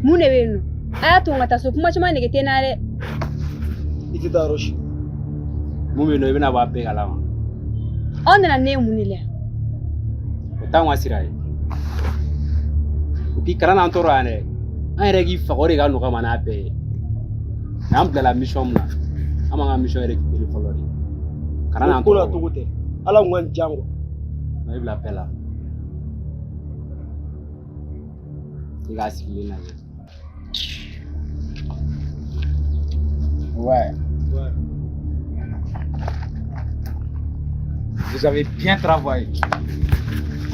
mun de bɛ yen nɔ a y'a to n ka taa so kuma caman nege tɛ n na dɛ i tɛ taa yɔrɔ si mun bɛ yen nɔ i bɛna bɔ a bɛɛ kalama aw nana ne ye mun de la o t'anw ka sira ye o k'i kana n'an tɔɔrɔ yan dɛ an yɛrɛ k'i faga o de ka nɔgɔ an ma n'a bɛɛ ye mais an bilala mission min na an b'an ka mission récupérer fɔlɔ de kana n'an tɔgɔ togo tɛ ala kun ka n jan kuwa na i bila bɛɛ la i k'a sigilen lajɛ ouais. ouais. Vous avez bien travaillé.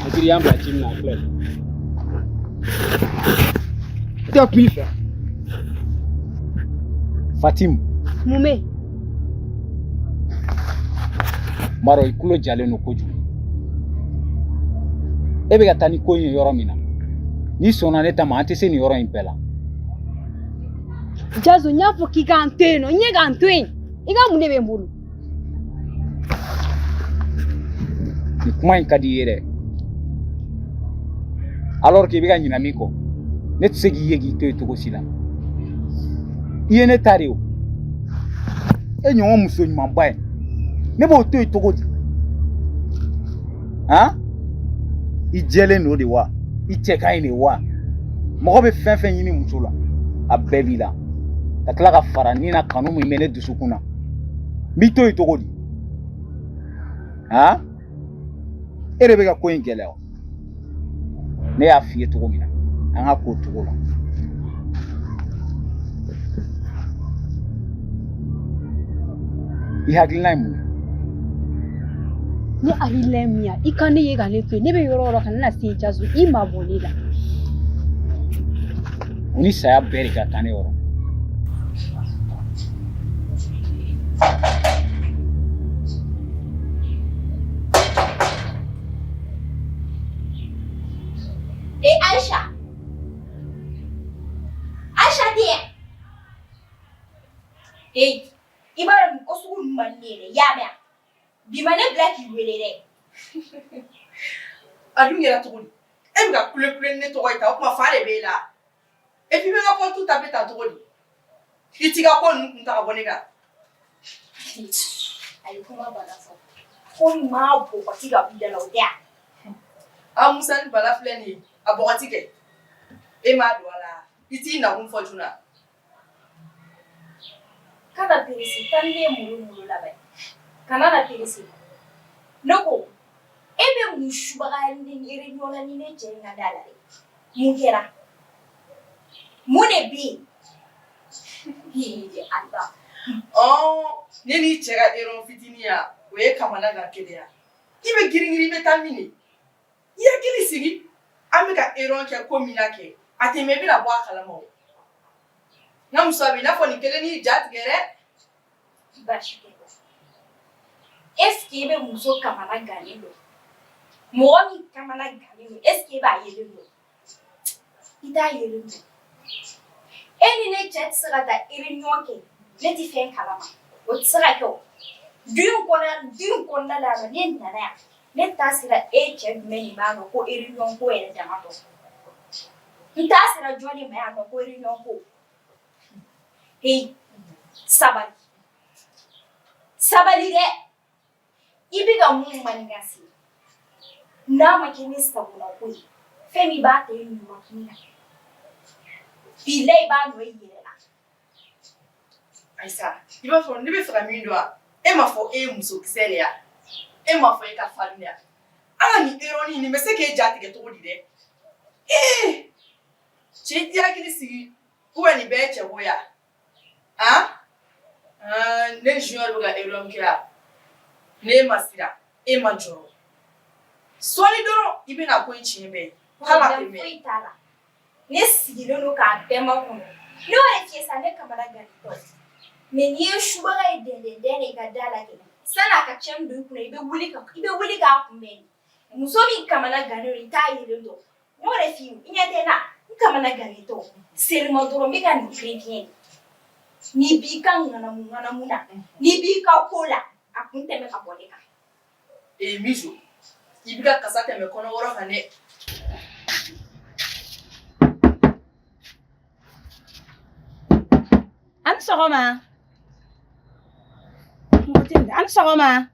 A tun y'an bila ci min na a filɛ. T'as pu faire. Fatim. Mun bɛ yen? Maro i kulo jalen don kojugu. E bɛ ka taa ni ko in ye yɔrɔ min na. N'i sɔnna ne ta ma an tɛ se nin yɔrɔ in bɛɛ la. Jazo n y'a fɔ k'i k'an to yen nɔ, n ye k'an to yen. I ka mun de bɛ n bolo? Nin kuma in ka di i ye dɛ alors que i bɛ ka ɲinɛ min kɔ ne tɛ se k'i ye k'i to yen cogo si la i ye ne ta de ye o e ɲɔgɔn muso ɲumanba ye ne b'o to yen cogo di han i jɛlen don de wa i cɛ ka ɲi de wa mɔgɔ bɛ fɛn fɛn ɲini muso la a bɛɛ b'i la ka tila ka fara ni na kanu min bɛ ne dusukun na n b'i to yen cogo di han e de bɛ ka ko in gɛlɛya ne y'a f'i ye cogo min na an k'a k'o cogo la i hakilina ye mun ye ne hakilina ye min ye i ka ne ye ka ne to yen ne bɛ yɔrɔ o yɔrɔ ka ne na se jaso i mabɔ ne la o ni saya bɛɛ de ka kan ne yɔrɔ Eh, Aisha. Aisha dear. Eh, i b'a dɔn ko sugu ninnu man di ne ye dɛ, i y'a mɛn wa? Bi ma ne bila k'i wele dɛ. A dun kɛra cogo di? E bɛ ka kule kule ni ne tɔgɔ ye tan, o tuma fa de b'e la wa? e bɛ ka kɔtu ta bɛ taa cogo di i t'i ka ko ninnu kun ta ka bɔ ne kan a ye kuma bala fɔ ko maa bɔgɔti ka b'i da la o tɛ yan a musa ni bala filɛ nin ye a bɔgɔti kɛ e m'a don a la i t'i nakun fɔ joona kana perese tan ne ye mulu mulu labɛn kana na perese ne ko e bɛ mun subaga ni yɛrɛ ɲɔgɔn ni ne cɛ in ka da la dɛ Mun kɛra mun de bɛ yen ne n'i cɛ ka ereniyɔn fitininya o ye kamana gan de ya i bɛ girinirin i bɛ taa min i hakili sigi an bɛ ka ereniyɔn kɛ ko min na kɛ a tɛ mɛɛn i bɛna bɔ a kalama n'a muso b'i n'a fɔ nin kelen ni ja tigɛ Baasi tɛ ko eseke i bɛ muso kamana gannen dɔn mɔgɔ min kamana gannen don eseke i b'a yelen dɔn i t'a yelen dɔn e ni ne cɛ tɛ se ka taa ereniyɔn kɛ ne tɛ fɛn kalama o tɛ se ka kɛ du in kɔnɔ du in kɔnɔna la ne nana yan ne taa sera e cɛ jumɛn nin ma yan ko ereniyɔn ko yɛrɛ dama dɔn n taa sera jɔn nin ma yan ko ereniyɔn ko Hei, sabali sabali dɛ i bɛ ka mun mankan ci n'a ma kɛ ni sagona ko ye fɛn min b'a to i ɲuman kun na bila i b'a nɔ i yɛrɛ la ayisa i b'a fɔ ne b'a fɛ ka min dɔn wa e ma fɔ e ye muso kisɛ de ya e ma fɔ e ka farin de ya ala ni ereniyɔn nin bɛ se k'e ja tigɛ cogo di dɛ ee Cɛ i t'i hakili sigi ko nin bɛɛ cɛ bonya a ne ni jɔn bɛ ka ereniyɔn kɛ yan ne ma siran e ma jɔrɔ sɔɔni dɔrɔn i bɛna ko in tiɲɛ bɛɛ ne sigilen don k'a bɛɛ makɔnɔ e cɛ sa ne kamana gantɔ mɛ n'i ye subaa ye den den den de ka da la kɛ sani a ka cɛ don kun i bɛ i bɛ wuli k'a kunbɛn muso min kamana gan i t'a yelen dɔn Ne yɛrɛ filɛ i ɲɛ tɛ n na n kamana gantɔ sɛlɛman dɔrɔn n bɛ ka nin fiɲɛ fiɲɛ n'i b'i ka ŋanamu ŋanamu na n'i b'i ka ko la a kun tɛmɛ ka bɔ ne kan ee muso i bɛ ka kasa tɛmɛ kɔnɔwɔrɔ kan dɛ aw ni sɔgɔma aw ni sɔgɔma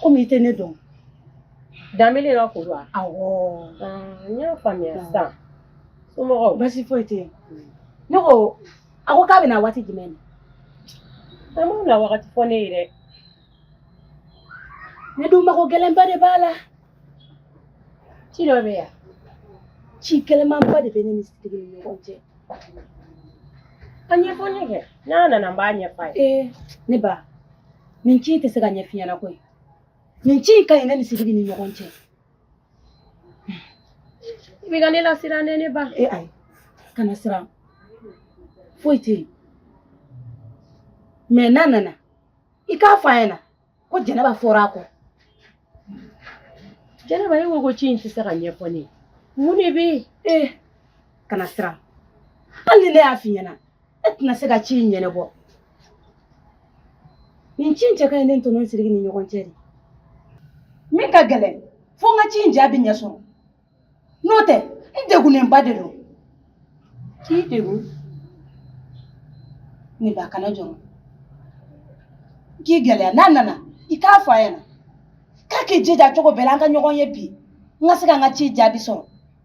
komi i tɛ ne dɔn danbele ka ko don awɔ n y'a faamuya sisan somɔgɔw basi foyi tɛ yen ne ko a ko k'a bɛ na waati jumɛn na a m'u na wagati fɔ ne ye dɛ ne dun mago gɛlɛnba de b'a la ci dɔ bɛ yan ci gɛlɛnmanba de bɛ ne ni sidiki ni ɲɔgɔn cɛ a ɲɛfɔ ne kɛ n'a nana n b'a ɲɛfɔ a ye ne ba nin ci in tɛ se ka ɲɛf'i ɲɛna koyi nin ci in ka ɲi ne ni sidiki ni ɲɔgɔn cɛ i bɛ ka ne lasiran dɛ ne ba e ayi kana siran foyi tɛ yen mɛ n'a nana i k'a fɔ a ɲɛna ko jɛnɛba fɔra a kɔ jɛnɛba e ko ko ci in tɛ se ka ɲɛfɔ ne ye mun de bɛ yen ee kana siran hali ni ne y'a f'i ɲɛna e tɛna se ka ci in ɲɛnabɔ nin ci in cɛ ka ɲi ne ni tɔɲɔgɔn siriki ni ɲɔgɔn cɛ de min ka gɛlɛn fo n ka ci in jaabi ɲɛ sɔrɔ n'o tɛ n degunnenba de don k'i degun ne ba kana jɔrɔ k'i gɛlɛya n'a nana i k'a fɔ a ɲɛna k'a k'i jija cogo bɛɛ la an ka ɲɔgɔn ye bi n ka se ka n ka ci jaabi sɔrɔ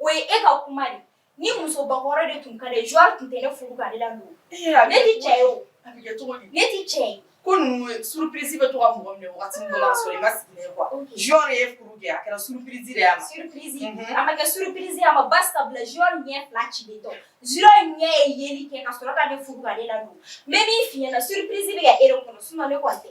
O ye e ka kuma de ni muso bakɔrɔ de tun ka di joueur tun tɛ ne furu ka ne ladon ne tɛ cɛ ye o ne tɛ cɛ ye ko surprise bɛ to ka mɔgɔ minɛ waati dɔ la ka sɔrɔ i ma sigi n'a ye quoi joueur ye furu kɛ a kɛra surprise de y'a ma surprise a ma kɛ surprise y'a ma ba sabula joueur ɲɛ fila cilen tɛ o joueur ɲɛ ye yeli kɛ ka sɔrɔ ka ne furu ka ne ladon n bɛ min f'i ɲɛna surprise bɛ kɛ e de kɔnɔ sinon ne kɔni tɛ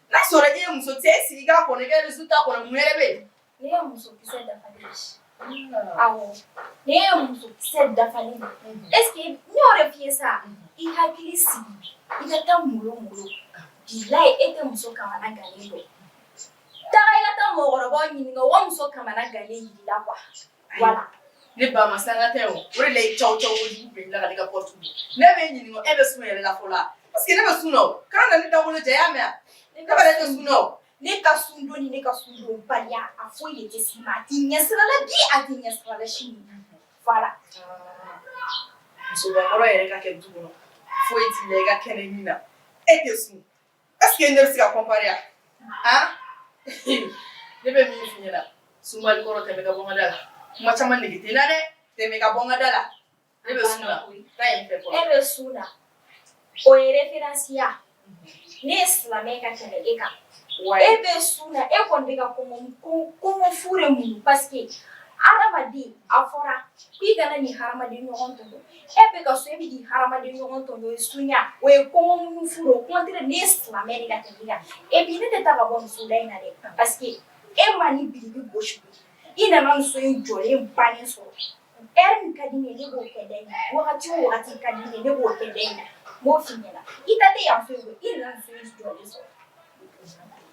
n'a sɔrɔ e ye muso t'i sigi k'a kɔnɔ i ka résultat kɔnɔ mun yɛrɛ bɛ yen. ne ye muso kisɛ dafalen ye. awɔ ne ye muso kisɛ dafalen ye. est ce que n y'o de f'i ye sa i hakili sigi i ka taa molo molo bilayi e tɛ muso kamana gannen dɔn. taga i ka taa mɔgɔkɔrɔbaw ɲininka u ka muso kamana gannen yir'i la quoi. voilà ne ba ma sanga tɛ o o de la i caw caw kojugu bɛ tila ka ne ka porte don ne b'i ɲininka e bɛ sun yɛrɛ la fɔlɔ parce que ne bɛ sun na o kana na ne dawolo ja i y'a mɛn ne bɛ ne tɛ sun na o ne ka sun don ni ne ka sun don baliya a foyi de tɛ s'i ma a t'i ɲɛ sira la bi a t'i ɲɛ sira la sini voilà muso bakɔrɔ yɛrɛ ka kɛ du kɔnɔ foyi t'i la i ka kɛnɛ mun na e tɛ sun Est ce que ne bɛ se ka comparer wa ne bɛ min f'i ɲɛna sunbali kɔrɔ tɛmɛ ka bɔ n ka da la kuma caman nege tɛ n na dɛ tɛmɛ ka bɔ n ka da la ne bɛ sun la e bɛ sun la o ye référence ye wa ne ye silamɛ ka tɛmɛ e kan wa e bɛ sun na e kɔni bɛ ka kɔngɔ fu de muɲu parce que adamaden a fɔra k'i kana n'i hadamaden ɲɔgɔn tɔɲɔ E bɛ ka sun e bɛ k'i hadamaden ɲɔgɔn tɔɲɔ o ye sun ye wa o ye kɔngɔ muɲu fu de au contraire ne ye silamɛ de ka tɛmɛ e kan et puis ne tɛ taa ka bɔ nin so da in na dɛ parce que e ma nin biriki gosi i nana nin so in jɔlen bannen sɔrɔ heure min ka di ne ye ne b'o kɛ da in na wagati o wagati ka di ne ye ne b'o kɛ da in na n b'o f'i ɲɛna i ta tɛ yan fɛ i nana so in jɔlen sɔrɔ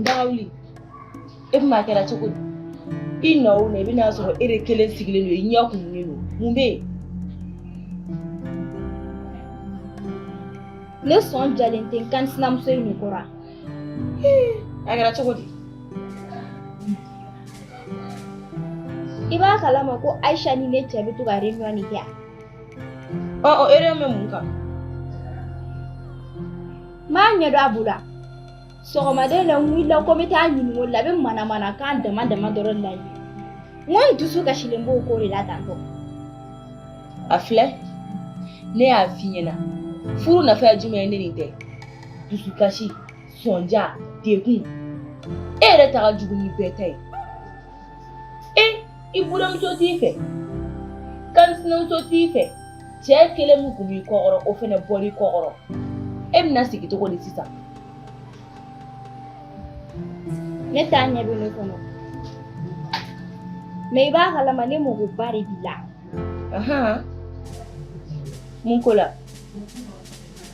Dagawuli e fana kɛra cogo di i na o na i bɛn'a sɔrɔ e de kelen sigilen don i ɲɛ kumunen don mun bɛ yen ne sɔn jalen tɛ n kansinamuso in de kɔrɔ a kɛra cogo di i b'a kalama ko aisha ni ne cɛ bɛ to ka reunion de kɛ ɔ ɔ reunion bɛ mun kan m'a ɲɛdɔn a bolo sɔgɔmada in na n wulila ko n bɛ taa ɲininka o la a bɛ manamanakan dama dama dɔrɔn la ye n ko n dusu kasilen b'o ko de la tantɔ a filɛ ne y'a f'i ɲɛna furu nafa ye jumɛn ye ni nin tɛ dusukasi sɔnja degun e yɛrɛ ta ka jugu ni bɛɛ ta ye e i buranmuso t'i fɛ kansinamuso t'i fɛ cɛ kelen min kun b'i kɔkɔrɔ o fɛnɛ bɔr'i kɔkɔrɔ e bɛna sigi cogo di sisan ne t'a ɲɛ bɛ ne kɔnɔ mais i b'a kalama ne magoba de b'i la mun ko la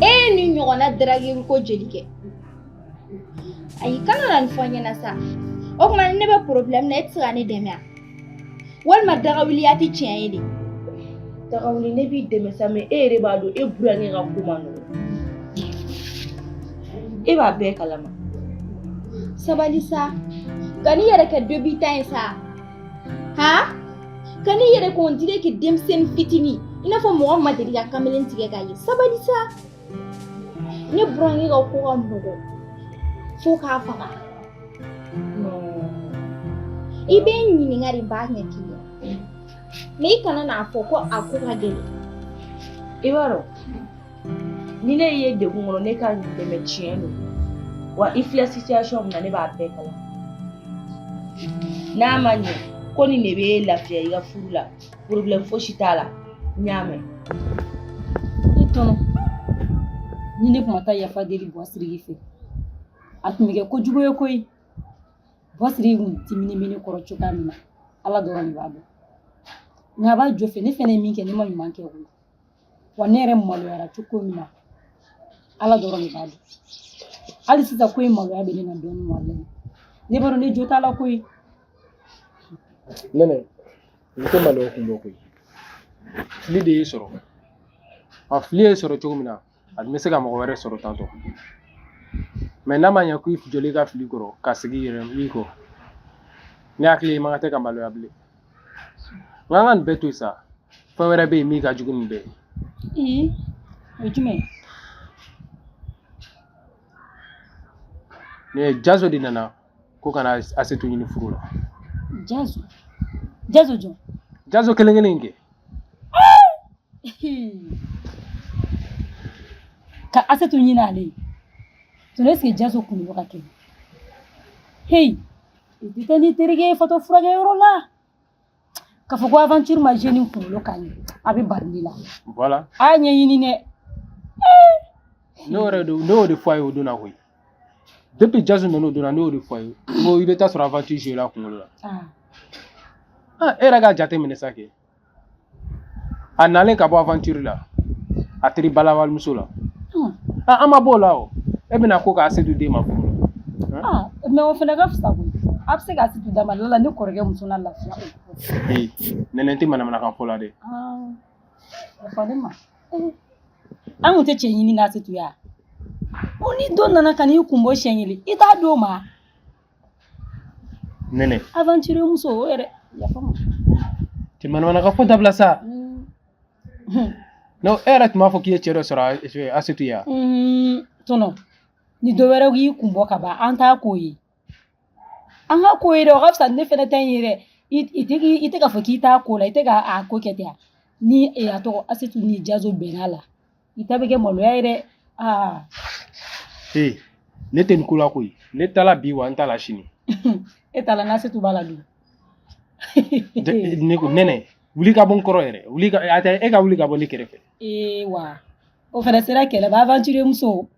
e ye nin ɲɔgɔnna darageli ko jeli kɛ ayi kana na nin fɔ n ɲɛna sa o tuma ne bɛ problème na e tɛ se ka ne dɛmɛ wa walima dagawuliya tɛ tiɲɛ ye de dagawuli ne b'i dɛmɛ sa mais e yɛrɛ b'a dɔn e burankɛ ka ko man nɔgɔn e b'a bɛɛ kalama sabali sa kan'i yɛrɛ kɛ débutant ye sa kan'i yɛrɛ kɛ on dirait que denmisɛnnin fitinin i n'a fɔ mɔgɔ ma deli ka kamalen tigɛ k'a ye sabali sa ne burankɛ ka ko ka nɔgɔn fo k'a faga i bɛ n ɲininka de n b'a ɲɛ k'i ye mais i kana n'a fɔ ko a ko ka gɛlɛn i b'a dɔn ni ne ye degun kɔnɔ ne ka dɛmɛ tiɲɛ don wa i filɛ situation min na ne b'a bɛɛ kalama n'a ma ɲɛ ko nin de b'e lafiya i ka furu la problème fosi t'a la n y'a mɛn ne tɔnɔ ni ne tun ma taa yafa deli buwa siriki fɛ a tun bɛ kɛ kojugu ye koyi buwa siriki tun diminen bɛ ne kɔrɔ cogoya min na ala dɔrɔn de b'a dɔn nka a b'a jo fɛ ne fɛnɛ ye min kɛ ne ma ɲuman kɛ o la wa ne yɛrɛ maloyara cogo min na ala dɔrɔn de b'a dɔn hali sisan ko in maloya bɛ ne na dɔɔnin walayi ne b'a dɔn ne jo t'a la koyi nɛnɛ n tɛ maloya kun bɔ koyi fili de y'i sɔrɔ a fili y'i sɔrɔ cogo min na a tun bɛ se ka mɔgɔ wɛrɛ sɔrɔ tantɔ mɛ n'a ma ɲɛ k'i jɔlen ka fili kɔrɔ ka segin i yɛrɛ kɔ ne hakili la i man kan tɛ ka maloya bilen Nka an ka nin bɛɛ to yen sa, fɛn wɛrɛ bɛ yen min ka jugu ni nin bɛɛ ye. Ee o ye jumɛn ye? Nin ye Jazo de nana ko ka na Asetu ɲini furu la. Jazo Jazo jɔn? Jazo kelen kelen in kɛ. Ka Asetu ɲini ale ye. Tɔnɔ est-ce que Jazo kunkolo ka kɛnɛ? Heyi! I tɛ taa n'i terikɛ ye fatɔ furakɛyɔrɔ la k'a fɔ ko aventure ma joué nin kunkolo kan a bɛ bari ne la voilà a y'a ɲɛɲini dɛ ne yɛrɛ de ne y'o de fɔ a ye o don na koyi depuis Jazo nana o don na ne y'o de fɔ a ye ko i bɛ taa sɔrɔ aventure joué la kunkolo la ah ah e yɛrɛ k'a jateminɛ sa kɛ a nalen ka bɔ aventure la a teri bala walimuso la Hmm. Ah, an ma b'o la o e bɛna ko k'Asetu di n ma furu la Ah, mɛ o fana ka fisa koyi a bɛ se k'Asetu d'a ma laala ne kɔrɔkɛ muso na lafiya Ee, nɛnɛ tɛ manamanakan fɔ la dɛ Ah, o fɔ ne ma Eh, an kun tɛ cɛ ɲini na Asetu ye wa o ni dɔ nana ka n'i kun bɔ siɲɛ kelen i t'a di o ma Nɛnɛ aventure muso o yɛrɛ yafa n ma tɛ manamanakan fɔ dabila sa non e yɛrɛ tun b'a fɔ k'i ye cɛ dɔ sɔrɔ Asetu ye wa tɔnɔ ni dɔ wɛrɛ y'i kun bɔ ka ban an t'a k'o ye an k'a k'o ye dɛ o ka fisa ni ne fɛnɛ ta in ye dɛ i tɛ i tɛ k'a fɔ k'i t'a ko la i tɛ ka a ko kɛ ten a ni a tɔgɔ Asetu ni Jazo bɛnna a la i ta bɛ kɛ maloya ye dɛ aa ee ne tɛ nin ko la koyi ne t'a la bi wa n t'a la sini e t'a la n'Asetu b'a la dun ne ko nɛnɛ wuli ka bɔ n kɔrɔ yɛrɛ wuli ka a tɛ e ka wuli ka bɔ ne kɛrɛfɛ ee wa o fana sera kɛlɛ ma aventure muso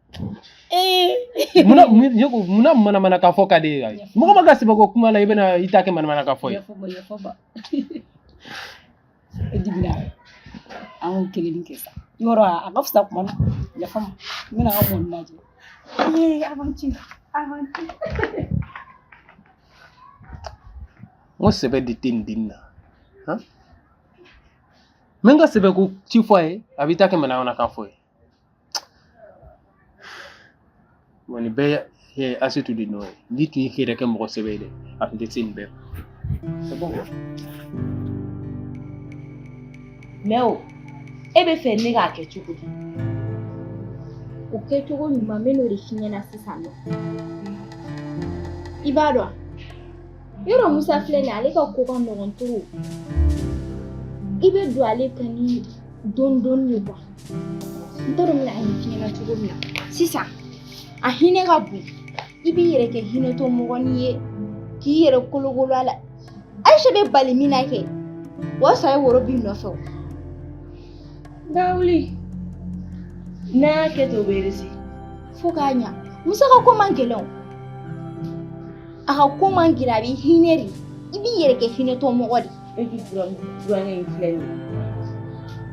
ee munna mun- ne ko munna manamanakan fɔ ka di e ye mɔgɔ mana kɛ sɛbɛ ko kuma la i bɛna i ta kɛ manamanakan fɔ ye yafa n ma yafa n ma e dimina an y'o kelen kɛ sa yɔrɔ a ka fisa kuma na yafa n ma n bɛna n ka mɔni lajɛ ee aventure aventure n ko sɛbɛ de tɛ nin dennin na han n bɛ n ka sɛbɛ ko ci fɔ a ye a b'i ta kɛ manamanakan fɔ ye Bon nin bɛɛ ye Asetu de nɔ ye n'i tun y'i yɛrɛ kɛ mɔgɔ sɛbɛ ye dɛ a tun tɛ se nin bɛɛ ma. C'est bon quoi? Mais o e bɛ fɛ ne k'a kɛ cogo di? O kɛcogo ɲuman n bɛn'o de f'i ɲɛna sisan nɔ i b'a dɔn wa? Yɔrɔ musa filɛ nin ale ka ko ka nɔgɔn trop i bɛ don ale kan ni dɔɔni dɔɔni ye quoi n t'a dɔn n bɛna a ɲɛf'i ɲɛna cogo min na sisan a hinɛ ka bon i b'i yɛrɛ kɛ hinɛtɔ mɔgɔni ye k'i yɛrɛ kolokolo a la ayise bɛ bali min na kɛ o y'a sɔrɔ a ye woro b'i nɔfɛ o dawuli n'a y'a kɛ ten o bɛ réussi fo k'a ɲa musa ka ko man gɛlɛn o a ka ko man gɛlɛn a bɛ hinɛ de i b'i yɛrɛ kɛ hinɛtɔ mɔgɔ de e t'i burankɛ in filɛ nin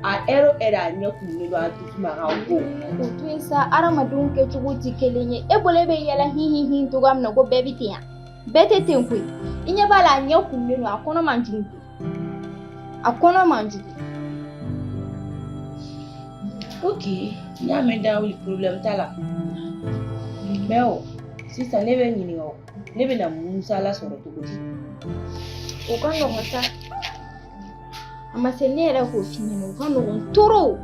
a ɛri o ɛri a ɲɛ kumunen don a dusu ma ka go o to yen sa hadamadenw kɛcogo tɛ kelen ye e bolo e bɛ yɛlɛ hin hin hin cogoya min na ko bɛɛ bɛ ten yan bɛɛ tɛ ten koyi i ɲɛ b'a la a ɲɛ kumunen don a kɔnɔ man jugu a kɔnɔ man jugu ok n y'a mɛn dawuli problème t'a la mais o sisan ne b'i ɲininka o ne bɛna musa lasɔrɔ cogo di o ka nɔgɔn sa a ma se ne yɛrɛ k'o f'i ɲɛna o ka nɔgɔn trop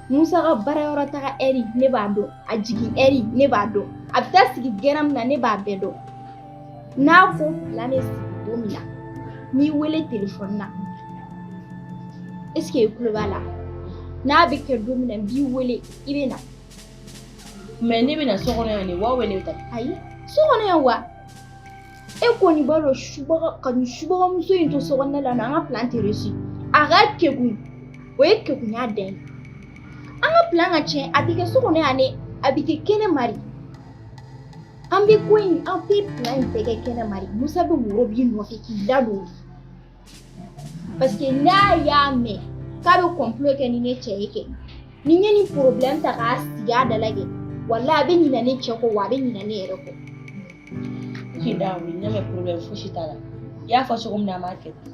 musa ka baarayɔrɔ taga ɛri ne b'a dɔn a jigin ɛri ne b'a dɔn a bɛ taa sigi gɛrɛn min na ne b'a bɛɛ dɔn n'a ko plan bɛ sigi don min na n'i wele telefɔni na est-ce que i tulo b'a la n'a bɛ kɛ don min na n b'i wele i bɛ na mais ne bɛ na so kɔnɔ yan de wa wala ne bɛ taa ayi so kɔnɔ yan wa e kɔni b'a dɔn subaga ka nin subagamuso in to so kɔnɔna la an ka plan tɛ réussi a ka kegun o ye kegunya dan ye an ka plan ka tiɲɛ a bɛ kɛ so kɔnɔ yan dɛ a bɛ kɛ kɛnɛ ma de An bɛ ko in an bɛ plan in bɛɛ kɛ kɛnɛ ma de Musa bɛ woro b'i nɔfɛ k'i ladon o la parce que n'a y'a mɛn k'a bɛ complot kɛ ni ne cɛ ye kɛ ni n ye nin problème ta k'a sigi a da la kɛ walayi a bɛ ɲinɛ ne cɛ kɔ wa a bɛ ɲinɛ ne yɛrɛ kɔ. Ok Dawuli ne bɛ problème fosi t'a la i y'a fɔ cogo min na an b'a kɛ ten.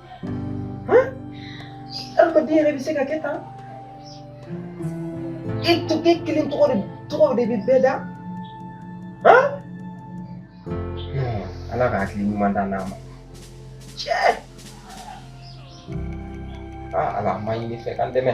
Adamaden yɛrɛ bɛ se ka kɛ tan e tɔgɔ e kelen tɔgɔ de bɛ bɛɛ da ala ka hakili ɲuman d'an ma cɛ aa ala an b'a ɲin'i fɛ k'an dɛmɛ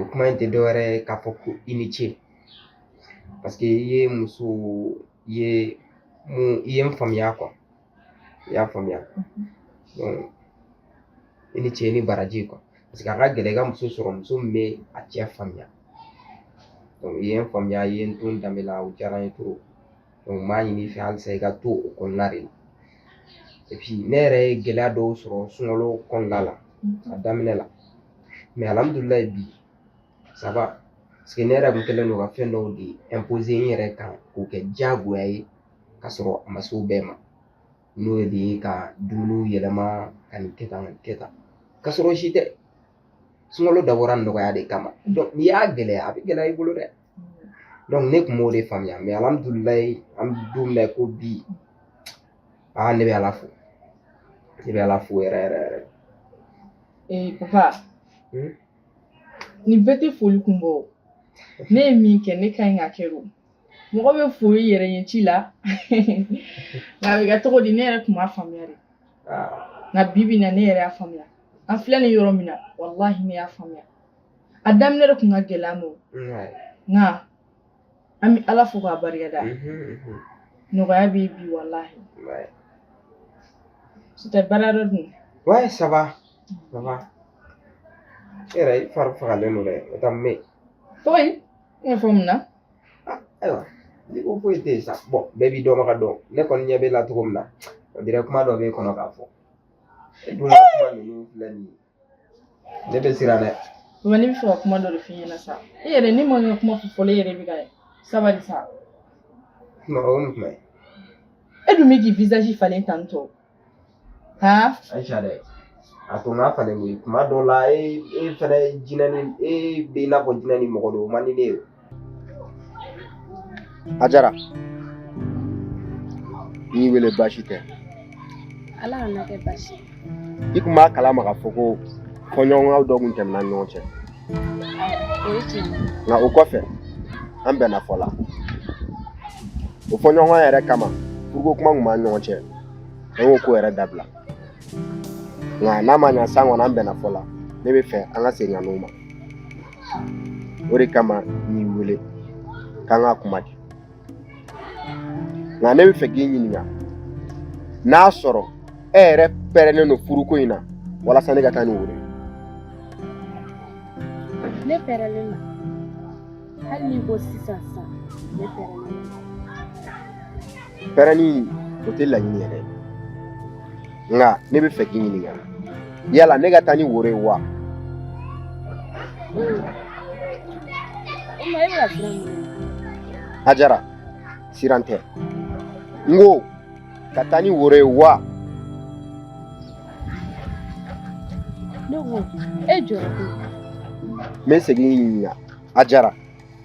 o kuma in tɛ dɔwɛrɛ ye k'a fɔ ko i ni ce paseke i ye muso ye min ye n faamuya kuwa i y'a faamuya donc i ni ce i ni baraji kuwa paseke a ka gɛlɛn i ka muso sɔrɔ muso min bɛ a cɛ faamuya donc i ye n faamuya i ye n to n danbe la o diyara n ye trop n b'a ɲini i fɛ halisa i ka to o kɔnɔna de la ne yɛrɛ ye gɛlɛya dɔw sɔrɔ sunkalo kɔnɔna la a daminɛ la mɛ alihamudulilayi bi ça va paseke ne yɛrɛ kun kɛlen don ka fɛn dɔw de imposer n yɛrɛ kan k'o kɛ diyagoya ye ka sɔrɔ a ma se o bɛɛ ma n'o de ye ka dumuniw yɛlɛma ka nin kɛ tan ka nin kɛ tan ka sɔrɔ o si tɛ sunkalo dabɔra nɔgɔya de kama n'i y'a gɛlɛya a bɛ gɛlɛya i bolo dɛ ne tun m'o de faamuya mɛ alihamudulilayi an bɛ don min na i ko bi aa ne bɛ ala fo ne bɛ ala fo yɛrɛ yɛrɛ yɛrɛ ee papa hmm? nin bɛɛ tɛ foli kun bɔ ne ye min kɛ ne ka ɲi k'a kɛ o mɔgɔ bɛ fo i yɛrɛ ɲɛci la nka a bɛ kɛ cogo di ne yɛrɛ tun m'a faamuya dɛ nka bi bi in na ne yɛrɛ y'a faamuya an filɛ nin yɔrɔ min na walahi ne y'a faamuya a daminɛ de kun ka gɛlɛn an ma o nka an bɛ ala fo k'a barikada Mhm, mhm. nɔgɔya bɛ yen bi walahi c'était baara dɔ dun Ouais, ça va. Ça va. E yɛrɛ i fari fagalen don dɛ o ta me foyi i n'a fɔ mun na ayiwa n'i ko foyi tɛ yen sa bɔn bɛɛ b'i dɔnbaga dɔn ne kɔni ɲɛ b'e la cogo min na on dirait kuma dɔ b'e kɔnɔ k'a fɔ e dun ka kuma ninnu filɛ nin ye ne bɛ siran dɛ mama ne bɛ fɛ ka kuma dɔ de f'i ɲɛna sa e yɛrɛ ne ma n ka kuma fɔ fɔlɔ e yɛrɛ bɛ ka sabali sa mɔgɔ o ni kuma ye e dun bɛ k'i visage falen tan tɔ han ayisa dɛ a to n k'a falen koyi kuma dɔw la e e fɛnɛ jinɛ ni e bɛ i n'a fɔ jinɛ ni mɔgɔ don o man di ne ye Ajara n y'i wele baasi tɛ ala kan'a kɛ baasi i tun b'a kalama k'a fɔ ko fɔɲɔgɔnkɔ dɔ tun tɛmɛna an ni ɲɔgɔn cɛ o ye tiɲɛ ye nka o kɔfɛ an bɛnna fɔ la o fɔɲɔgɔnkɔ yɛrɛ kama furuko kuma tun b'an ɲɔgɔn cɛ an y'o ko yɛrɛ dabila nka n'a ma ɲa san kɔnɔ an bɛnna fɔ la ne bɛ fɛ an ka segin ka n'o ma o de kama n y'i wele k'an ka kuma kɛ nka ne bɛ fɛ k'i ɲininka n'a sɔrɔ e yɛrɛ pɛrɛnnen don furuko in na walasa ne ka taa ni woro ye ne pɛrɛnnen don hali n'i ko sisan sisan ne pɛrɛnnen don pɛrɛnni o tɛ laɲini yɛrɛ ye nka ne bɛ fɛ k'i ɲininka yala ne ka taa ni woro ye wa hajara siran tɛ n ko ka taa ni woro ye wa ne ko e jɔ n bɛ segin k'i ɲininka hajara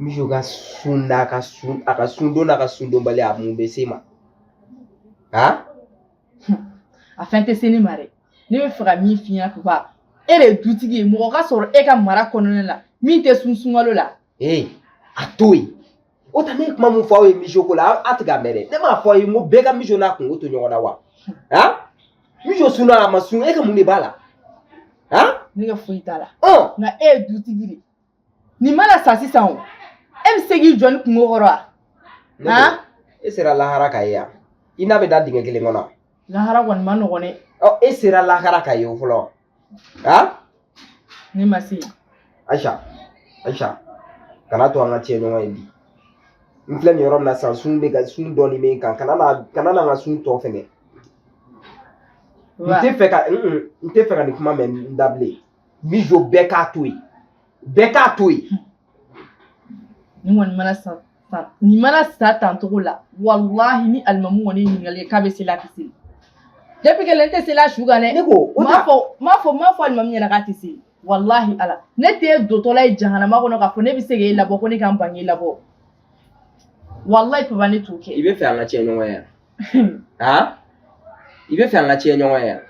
mijo ka sun don a ka sun a ka sun don n'a ka sun donbali a mun bɛ se e ma ha a fɛn tɛ se ne ma dɛ ne bɛ fɛ ka min f'i ɲɛna papa e de ye dutigi ye mɔgɔ ka sɔrɔ e ka mara kɔnɔna la min tɛ sun sunkalo la ee a to yen o tɛ ne ye kuma min fɔ aw ye mijo ko la a tɛ ka mɛn dɛ ne m'a fɔ aw ye n ko bɛɛ ka mijo n'a kungo to ɲɔgɔn na wa ha mijo sunna a ma sun e ka mun de b'a la ha ne ka foyi t'a la ɔ nka e ye dutigi de ye nin mana sa sisan o e bɛ se k'i jɔ ni kungo kɔrɔ wa Ne ko, e sera lahara ka ye yan i n'a bɛ da dingɛ kelen kɔnɔ lahara kɔni ma nɔgɔn dɛ ɔ e sera lahara ka ye o fɔlɔ ha ne ma se yen ayisa ayisa kana to an ka tiɲɛ ɲɔgɔn ye bi n filɛ nin yɔrɔ min na sisan sun bɛ ka sun dɔɔnin bɛ n kan kana na kana na n ka sun tɔ fɛnɛ n wa tɛ fɛ ka n n tɛ fɛ ka nin kuma mɛn i da bilen mijo bɛɛ k'a to yen bɛɛ k'a to yen nin kɔni mana sa nin mana sa tan cogo la walahi ni alimamu kɔni ye ɲininkali kɛ k'a bɛ seli a tɛ seli depuis que ne tɛ seli a su kan dɛ ne ko o m'a ta fɔ m'a fɔ m'a fɔ alimamu ɲɛna k'a tɛ seli walahi ala ne tɛ dotɔla ye jahanama kɔnɔ k'a fɔ ne bɛ se k'e labɔ ko ne ka n bange labɔ walahi papa ne t'o kɛ i bɛ fɛ an ka tiɲɛ ɲɔgɔn ye yan ha i bɛ fɛ an ka tiɲɛ ɲɔgɔn ye yan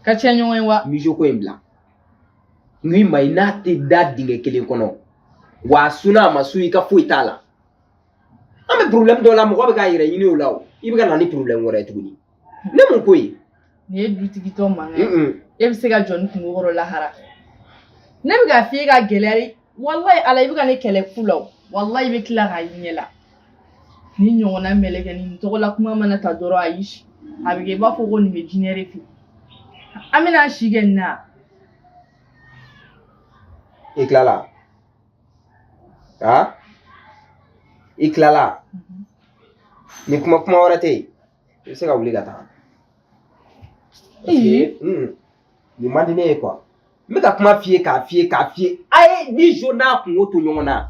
ka tiɲɛ ɲɔgɔn ye wa mijo ko in bila n k'i ma i n'a tɛ da dingɛ kelen kɔnɔ wa a sunna a ma sun i ka foyi t'a la an bɛ porobilɛmu dɔ la mɔgɔ bɛ k'a yɛrɛ ɲini o la o i bɛ ka na ni porobilɛmu wɛrɛ ye tuguni ne mun ko ye nin ye dutigitɔ mankan ye Mm-mm. e bɛ se ka jɔ ni kungo kɔrɔ lahara ne bɛ k'a f'i ye ka gɛlɛya de walayi ala i bɛ ka ne kɛlɛ fu la o walayi i bɛ tila k'a ɲɛ la ni ɲɔgɔnna mɛlɛkɛ ni nin tɔgɔ la kuma mana ta dɔrɔn a y'i si a bɛ kɛ i b'a fɔ ko nin bɛ jinɛ de fɛ an bɛna si kɛ nin na i tilala a i tilala ni kuma kuma wɛrɛ tɛ yen i bɛ se ka wuli ka taa nin man di ne ye kuwa n bɛ ka kuma f'i ye k'a f'i ye k'a f'i ye a ye mijo n'a kunko to ɲɔgɔn na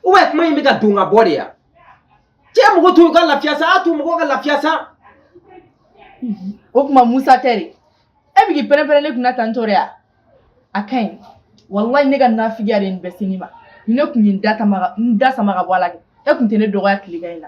u bɛ kuma in bɛ ka don ka bɔ de yan cɛ mɔgɔ to ka lafiya sa a to mɔgɔ ka lafiya sa o tuma musa tɛ de e bɛ k'i pɛrɛn-pɛrɛn ne kunna tan tɔ de ya a ka ɲi walayi ne ka nafigiya de ye nin bɛɛ se ne ma ni ne tun ye n da sama ka bɔ a la kɛ e tun tɛ ne dɔgɔya tilegan in na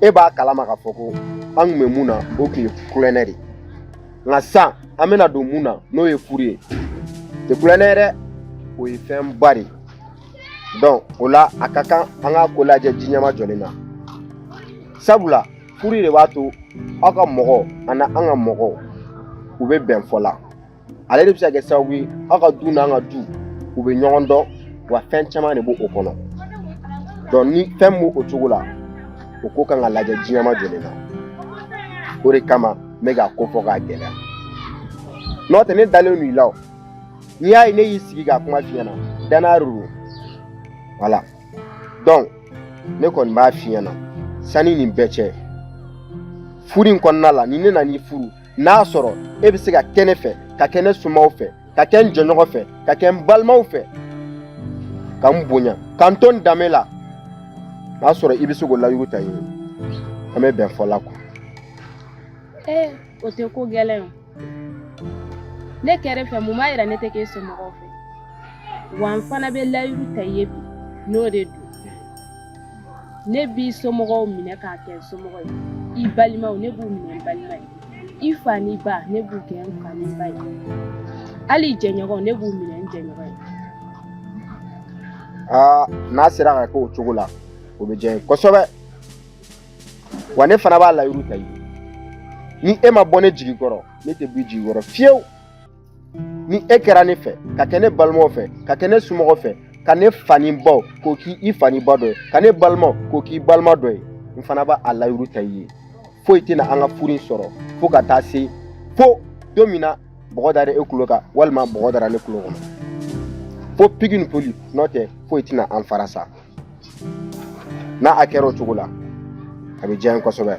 e b'a kalama k'a fɔ ko an kun bɛ mun na o kun ye kulonkɛ de nka sisan an bɛna don mun na n'o ye furu ye tɛ kulonkɛ ye dɛ o ye fɛn ba de donc o la a ka kan an ka ko lajɛ ji ɲɛma jɔlen na sabula furu de b'a to aw ka mɔgɔw ani an ka mɔgɔw u bɛ bɛn fɔ la ale de bɛ se ka kɛ sababu ye aw ka du n'an ka du u bɛ ɲɔgɔn dɔn wa fɛn caman de b'o kɔnɔ donc ni fɛn b'o cogo la o ko kan ka lajɛ ji ɲɛma jɔlen na o de kama n bɛ k'a ko fɔ k'a gɛlɛya n'o tɛ ne dalen don i la o n'i y'a ye ne y'i sigi ka kuma f'i ɲɛna danaya de don wala donc ne kɔni b'a f'i ɲɛna sanni nin bɛɛ cɛ furu in kɔnɔna la ni ne nan'i furu n'a sɔrɔ e bɛ se ka kɛ ne fɛ ka kɛ ne somaw fɛ ka kɛ n jɛɲɔgɔn fɛ ka kɛ n balimaw fɛ ka n bonya ka n to n danbe la n'a sɔrɔ i bɛ se k'o layiru ta n ye an bɛ bɛn fɔ la kuwa. ee o tɛ ko gɛlɛn o ne kɛrɛ fɛ mun b'a yira ne tɛ k'e somɔgɔw fɛ wa n fana bɛ layiru ta i ye bi n'o de don. ne b'i somɔgɔw minɛ k'a kɛ somɔgɔ ye i balimaw ne b'u minɛ n balima ye i fa n'i ba ne b'u kɛ n fa ni ba ye hali i jɛɲɔgɔnw ne b'u minɛ n jɛɲɔgɔn ye aa n'a sera ka kɛ o cogo la o bɛ diya n ye kosɛbɛ wa ne fana b'a layiru ta i ye ni e ma bɔ ne jigi kɔrɔ ne tɛ b'i jigi kɔrɔ fiyewu ni e kɛra ne fɛ ka kɛ ne balimaw fɛ ka kɛ ne somɔgɔw fɛ ka ne fa ni baw k'o k'i fa ni ba dɔ ye ka ne balimaw k'o k'i balima dɔ ye n fana b'a layiru ta i ye foyi tɛna an ka furu in sɔrɔ fo ka taa se fo don min na bɔgɔ dara e kulo kan walima bɔgɔ dara ne kulo kɔnɔ fo pigi ni poli n'o tɛ foyi tɛna an fara sa n'a kɛra o cogo la a bɛ diya n ye kosɛbɛ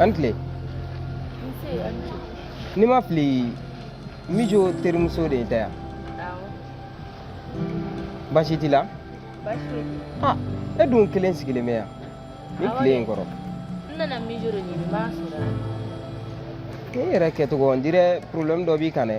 A ni tile ni n ma fili mijo terimuso de tɛ yan baasi t'i la ah e dun kelen sigilen bɛ yan nin tile in kɔrɔ e yɛrɛ kɛcogo ɔn dirɛ porobilɛmu dɔ b'i kan dɛ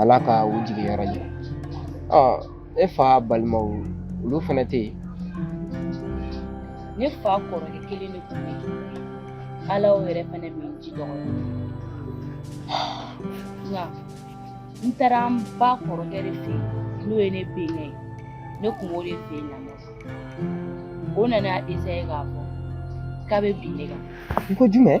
ala ka u jigiyɔrɔ diya e fa balimaw olu fana tɛ yen ne fa kɔrɔkɛ kelen de tun b'a la o yɛrɛ fana bɛ n ji dɔgɔya nka n taara n ba kɔrɔkɛ de fɛ n'o ye ne bɛnkɛ ye ne kun b'o de fɛ yen lamɔ o nana esaye k'a fɔ k'a bɛ bin ne kan i ko jumɛn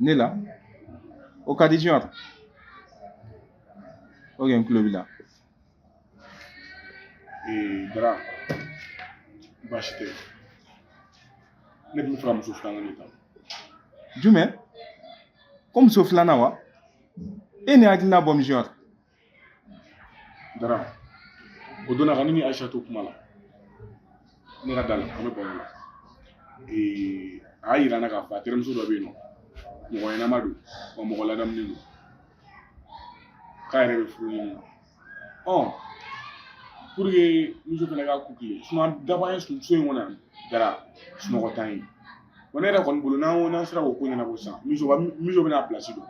ne la o ka di junior oke n tulo b'i la ee dara baasi tɛ ne tun bɛ fɛ ka muso filanan de ta jumɛn ko muso filanan wa e nin hakilina bɔ misiyɔrɔ dara o don na ka ne ni ayisa to kuma la ne ka da la an bɛ baro la ee a y'a yira n na k'a fɔ a terimuso dɔ bɛ yen nɔ mɔgɔ ɲɛnama don wa mɔgɔ ladamulen don k'a yɛrɛ bɛ furu ɲini na ɔ pour que muso fana ka ku kile sinon daba ye so in kɔnɔ yan dara sunɔgɔ t'an ye wa ne yɛrɛ kɔni bolo n'an ko n'an sera k'o ko ɲɛnabɔ sisan muso bɛna pilasi dɔn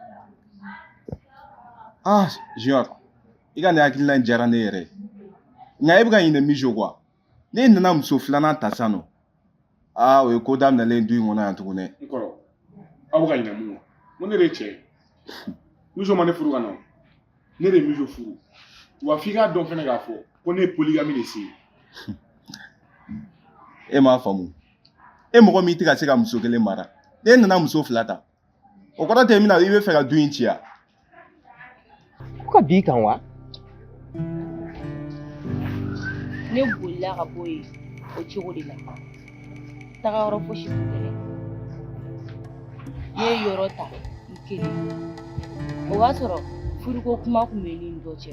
ah junior i ka nin hakilina in diyara ne yɛrɛ ye nka e bɛ ka ɲinɛ min jo kuwa ne nana muso filanan ta sisan nɔ aa o ye ko daminɛlen du in kɔnɔ yan tuguni n kɔrɔ aw bɛ ka ɲinɛ min kɔ ko ne de ye cɛ ye muso ma ne furu ka na ne de ye muso furu wa f'i k'a dɔn fɛnɛ k'a fɔ ko ne ye poligami de siɲe e m'a faamu e mɔgɔ min tɛ ka se ka muso kelen mara e nana muso fila ta O kɔrɔ tɛ min na i bɛ fɛ ka du in ci ya Ko ka bin i kan wa? Ne bolila ka bɔ yen o cogo de la. Taga yɔrɔ fosi tun tɛ ne bolo. Ne ye yɔrɔ ta n kelen. O b'a sɔrɔ furuko kuma tun bɛ ne ni dɔ cɛ.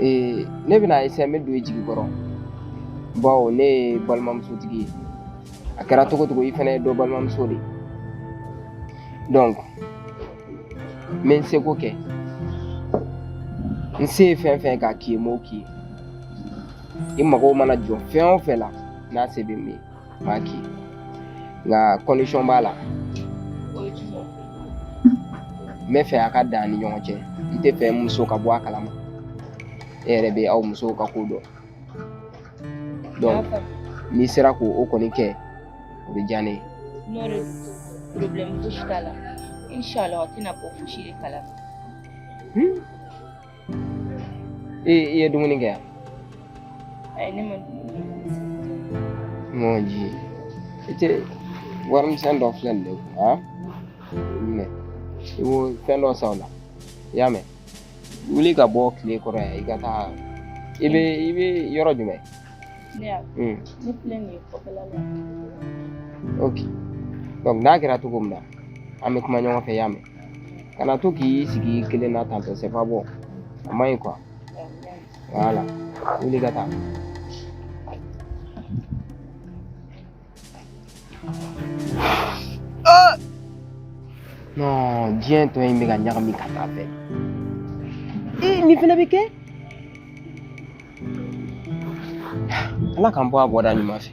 ee ne bɛna esaye n bɛ don i jigi kɔrɔ bawo ne ye balimamusotigi ye a kɛra cogo cogo i fana ye dɔ balimamuso de ye donc n bɛ n seko kɛ n se ye fɛn fɛn k'a k'i ye n b'o k'i ye i mago mana jɔ fɛn o fɛn la n'a se bɛ n ye B'a k'i ye. Nka condition b'a la. N bɛ fɛ a ka dan an ni ɲɔgɔn cɛ n tɛ fɛ n muso ka bɔ a kalama e yɛrɛ bɛ aw musow ka ko dɔn donc n'i sera k'o kɔni kɛ o bɛ diya ne ye. N'o de don problème fosi t'a la inchallah a tɛna bɔ fosi de kalama. i ye dumuni kɛ yan ayi ne ma dumuni kɛ mon dieu i tɛ warimisɛn dɔ filɛ nin de kun a minɛ i b'o fɛn dɔ san o la i y'a mɛn wuli ka bɔ tile kɔrɔ yan i ka taa i bɛ i bɛ yɔrɔ jumɛn ne y'a ne filɛ nin ye kɔfɛla la ok donc n'a kɛra cogo min na an bɛ kuma ɲɔgɔn fɛ i y'a mɛn kana to k'i sigi kelen na ten tɔ c'est pas bon a man ɲi quoi voilà wuli ka taa non diɲɛ tɔ in bɛ ka ɲagami ka taa fɛ nin fana bɛ kɛ ala k'an bɔ a bɔda ɲuman fɛ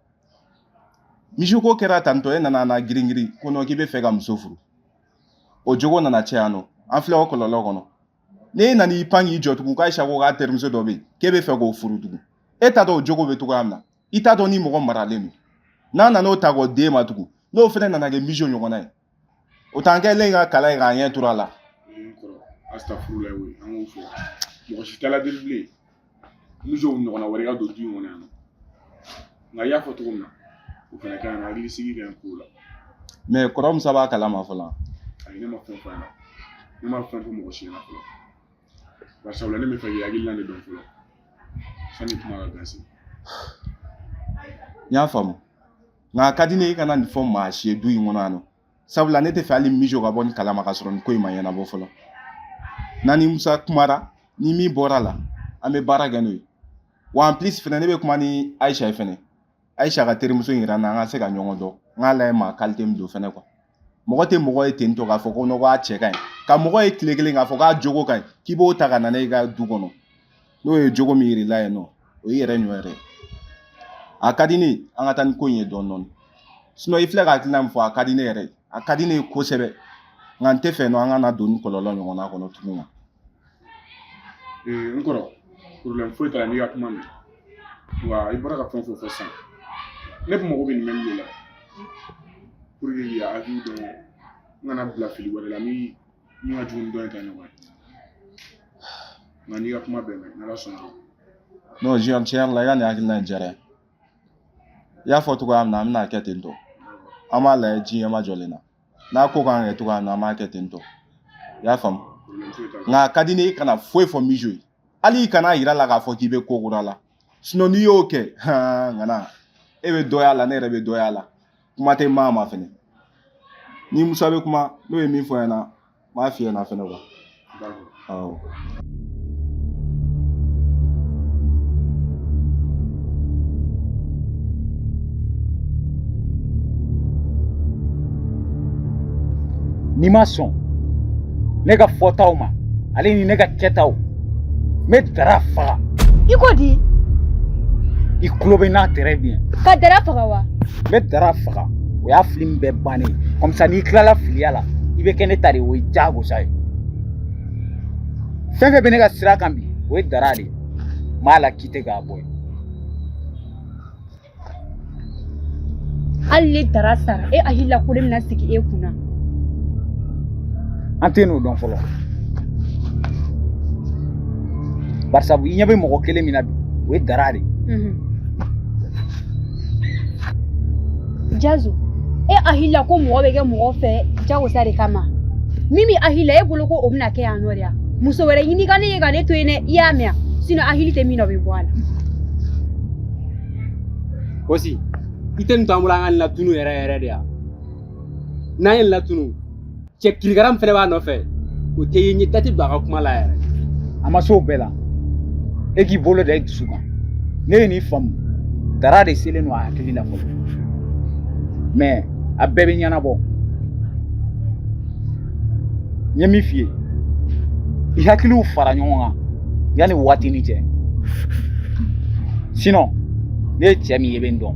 mijo ko kɛra ten tɔ e nana na giringirin ko non k'i bɛ fɛ ka muso furu o jogo nana cɛn yan nɔ an filɛ o kɔlɔlɔ kɔnɔ n'e nana i pan k'i jɔ tugun k'ayisa ko k'a terimuso dɔ bɛ yen k'e bɛ fɛ k'o furu tugun e t'a dɔn o jogo bɛ cogoya min na i t'a dɔn ni mɔgɔ maralen don n'a nana o ta k'o d'e ma tugun n'o fana nana kɛ mijo ɲɔgɔnna ye o t'an kɛlen ka kala ye k'an ɲɛ turu a la asitafurulayi an k'o fɔ mɔgɔ si t'ala deli bilen mijo ɲɔgɔnna wɛrɛ ka don du in kɔnɔ yan nka i y'a fɔ cogo min na o fana ka ɲi hakili sigi ka ɲi ko la mais kɔrɔ musa b'a kalama fɔlɔ ayi ne ma fɛn fɔ a ɲɛna ne ma fɛn fɔ mɔgɔ si ɲɛna fɔlɔ bari sabula ne bɛ fɛ k'i hakilina de dɔn fɔlɔ sani kuma ka gansi n y'a faamu nka a ka di ne ye i kana nin fɔ maa si ye du in kɔnɔ yan nɔ sabula ne tɛ fɛ hali mijo ka bɔ nin kalama ka sɔrɔ nin ko in ma ɲɛnabɔ fɔlɔ n'an ni musa kumara ni min bɔra a la an bɛ baara kɛ n'o ye wa en plus fɛnɛ ne bɛ kuma ni ayisa ye fɛnɛ ayisa k'a terimuso in yira n na an ka se ka ɲɔgɔn dɔn n k'a lajɛ maa qualité min don fɛnɛ quoi mɔgɔ tɛ mɔgɔ ye ten tɔ k'a fɔ ko non ko a cɛ ka ɲi ka mɔgɔ ye tile kelen k'a fɔ k'a jogo ka ɲi k'i b'o ta ka na ne ka du kɔnɔ n'o ye jogo min yir'i la yen nɔ o y'i yɛrɛ nɔ ye dɛ a ka di ne ye an ka taa ni ko in ye dɔɔni dɔɔni sinon i filɛ ka hakilina min fɔ a ka di ne yɛrɛ a ka di ne ye kosɛbɛ nka n tɛ fɛ non an ka na don nin kɔlɔlɔ ɲɔgɔnna kɔnɔ tugun ee n kɔrɔ problème foyi t'a la n y'i ka kuma mɛn wa i bɔra ka fɛn o fɛn fɔ sisan ne tun mago bɛ nin mɛnni de la pour que k'i hakili dɔn n kana bila fili wɛrɛ la min min ka jugu ni dɔ in ta ɲɔgɔn ye nka n y'i ka kuma bɛɛ mɛn n'ala sɔnna o ma. non disons tiɲɛ yɛrɛ la i ka nin hakilina in diyara n ye i y'a fɔ cogoya min na an bɛna kɛ ten tɔ an b'a lajɛ ji ɲɛmajɔlen na n'a ko k'an kɛ cogoya min na an b'a kɛ ten tɔ i y'a faamu nka a ka di ne ye i kana foyi fɔ mijo ye hali i kana a yira a la k'a fɔ k'i bɛ ko kura la sinon n'i y'o kɛ han ŋana e bɛ dɔya a la ne yɛrɛ bɛ dɔya a la kuma tɛ maa ma fɛnɛ n ni musa bɛ kuma n'o ye min fɔ ɲɛna n b'a f'i ɲɛna fɛnɛ n'i ma sɔn ne ka fɔtaw ma ale ni ne ka kɛtaw n bɛ dara faga i ko di i tulo bɛ n na très bien ka dara faga wa n bɛ dara faga o y'a filimu bɛɛ bannen ye comme ça n'i tilala filiya la i bɛ kɛ ne ta de ye o ye diyagosa ye fɛn fɛn bɛ ne ka sira kan bi o ye dara de ye n b'a lakite k'a bɔ yen hali ni dara sara e hakili la ko ne bɛna sigi e kunna an tɛ ɲɔgɔn dɔn fɔlɔ barisabu i ɲɛ bɛ mɔgɔ kelen min na bi o ye dara de ye jazo e hakili la ko mɔgɔ bɛ kɛ mɔgɔ fɛ jagosa de kama min bɛ hakili la e bolo ko o bɛna kɛ yan nɔ de ya muso wɛrɛ ɲini ka ne ye ka ne to yen dɛ i y'a mɛn yan sinɔn hakili tɛ min na o bɛ bɔ a la. Kosi i tɛ nin to an bolo an ka nin latunu yɛrɛ yɛrɛ de ya n'an ye nin latunu cɛ kirikara min fɛnɛ b'a nɔfɛ o tɛ ye ne da tɛ don a ka kuma la yɛrɛ a ma s'o bɛɛ la e k'i bolo da i dusu kan ne ye nin faamu dara de selen don a hakili la fɔlɔ mɛ a bɛɛ bɛ ɲɛnabɔ n ye min f'i ye i hakiliw fara ɲɔgɔn kan yanni waati ni cɛ sinɔn ne ye cɛ min ye i bɛ n dɔn